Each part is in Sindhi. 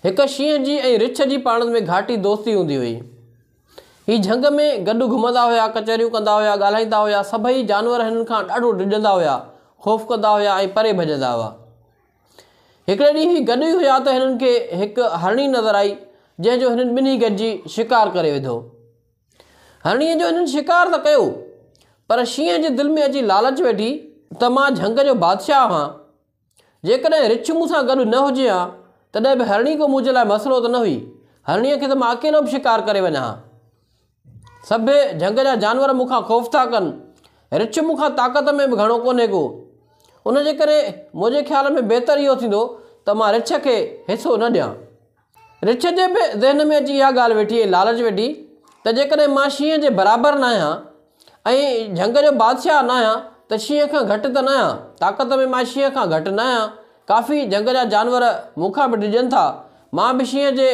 هڪ شينهن جي ۽ رڇ جي پاڻن ۾ گهاٽي دوستي هوندي هئي. هي جهنگ ۾ گڏ گهمندا هيا، ڪچهريون ڪندا هيا، ڳالهائيندا هيا. سڀئي جانور هنن کان ڏاڍو ڊڄندا هيا، خوف ڪندا هيا ۽ پري ڀڄندا هئا. هڪڙي ڏينهن هي گڏ ئي هيا ته هنن کي هڪ هرڻي نظر آئي، جنهن جو هنن ٻنهي گڏجي شڪار ڪري وڌو. هرڻيء جو هنن شڪار ته ڪيو، پر شينهن جي دل ۾ اچي لالچ ويٺي ته مان جهنگ جو بادشاهه آهان. جيڪڏهن رڇ مون سان گڏ نه هجي ها، تڏهن به هرڻي ڪو منهنجي لاء مسئلو ته نه هئي. هرڻيء کي ته مان اڪيلو به شڪار ڪري وڃان ها. سڀيئي جهنگ جا جانور مون کان خوف ٿا ڪن. رڇ مون کان طاقت ۾ به گهڻو ڪونهي ڪو. ان جي ڪري منهنجي خيال ۾ بهتر اهو ٿيندو ته مان رڇ کي حصو نه ڏيان. رڇ جي به ذهن ۾ اچي اها ڳالهه ويٺي ۽ لالچ ويٺي ته جيڪڏهن مان شينهن جي برابر نه آهيان ۽ جهنگ جو بادشاهه نه آهيان ته شينهن کان گهٽ ته نه آهيان، طاقت ۾ مان شينهن کان گهٽ نه آهيان، ڪافي جهنگ جا جانور مون کان به ڊڄن ٿا، مان به شينهن جي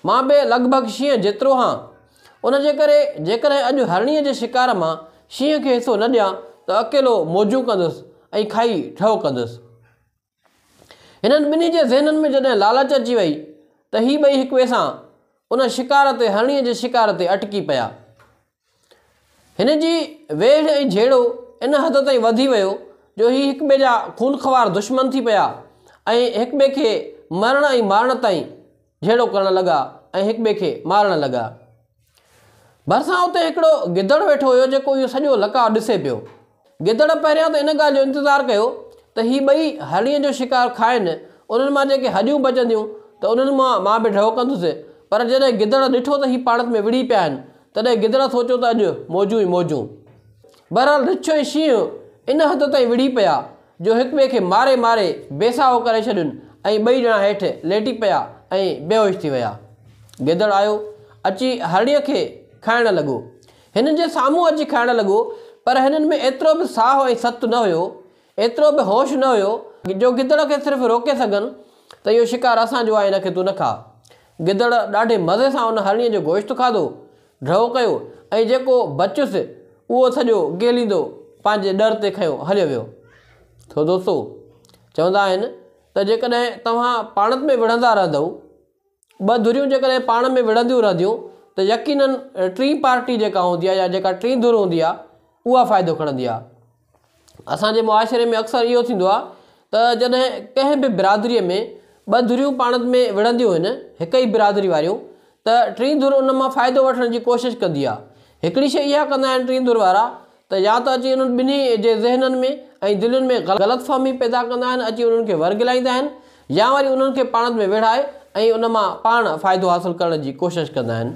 مان به لڳ ڀڳ شينهن جيترو هان، ان جي ڪري جيڪڏهن اڄ هرڻيء جي شڪار مان شينهن کي حصو نه ڏيان ته اڪيلو موجون ڪندس ۽ کائي ٺهه ڪندس. هنن ٻنهي جي ذهنن ۾ جڏهن لالچ اچي وئي ته هي ٻئي هڪ ٻئي سان ان شڪار تي هرڻيء جي شڪار تي اٽڪي پيا. هن جي ويڙهه ۽ جهيڙو ان حد تائين وڌي ويو جو هي هڪ ٻئي جا خونخوار دشمن ٿي پيا ۽ هڪ ٻئي کي مرڻ ۽ مارڻ تائين جهيڙو ڪرڻ لڳا ۽ هڪ ٻئي کي مارڻ لڳا. ڀرسان اتي هڪڙو گدڙ ويٺو هيو جيڪو اهو سڄو لقاء ڏسي پيو. گدڙ پهريان ته ان ڳالهه جو انتظار ڪيو ته هي ٻئي هرڻيء جو شڪار کائن، انهن مان جيڪي هڏيون بچنديون ته انهن مان مان به ڍؤ ڪندس، پر جڏهن گدڙ ڏٺو ته هي پاڻت ۾ وڙهي پيا آهن، تڏهن گدڙ سوچيو ته اڄ موجون ئي موجون. بهرحال رڇ ۽ شينهن ان حد تائين وڙهي پيا جو هڪٻئي کي ماري ماري بي ساهو ڪري ڇڏين ۽ ٻئي ڄڻا هيٺ ليٽي پيا ۽ بيهوش ٿي ويا. گدڙ آيو اچي هرڻيء کي کائڻ لڳو. هنن جي سامهون اچي کائڻ لڳو پر هنن ۾ ايترو به ساهو ۽ ست نه هيو، ايترو به هوش نه هيو جو گدڙ کي صرف روڪي سگهن ته اهو شڪار اسان جو آهي هن کي تون نه کاء. گدڙ ڏاڍي مزي سان ان هرڻيء جو گوشت کاڌو ڍؤ ڪيو ۽ جيڪو بچيس اهو سڄو گيليندو پنهنجي ڏر تي کنيو هليو ويو. سو دوستو! چوندا آهن ته جيڪڏهن توهان پاڻت ۾ وڙهندا رهندؤ، ٻه ڌريون جيڪڏهن پاڻ ۾ وڙهنديون رهنديون ته يقينن ٽين پارٽي جيڪا هوندي آهي يا جيڪا ٽين ڌر هوندي آهي اها فائدو کڻندي آهي. اسان جي معاشري ۾ اڪثر اهو ٿيندو آهي ته جڏهن ڪنهن به برادريء ۾ ٻه ڌريون پاڻ ۾ وڙهنديون آهن هڪ ئي برادري واريون ته ٽين ڌر ان مان ڦائدو وٺڻ جي ڪوشش ڪندي آهي هڪڙي شيء اها ڪندا آهن ٽين ڌر وارا ته يا ته اچي انهن ٻنهي جي ذهنن ۾ ۽ دلين ۾ غلط فهمي پيدا ڪندا آهن اچي انهن کي ورغلائيندا آهن يا وري انهن کي پاڻ ۾ ويڙهائي ۽ ان مان پاڻ فائدو حاصل ڪرڻ جي ڪوشش ڪندا آهن.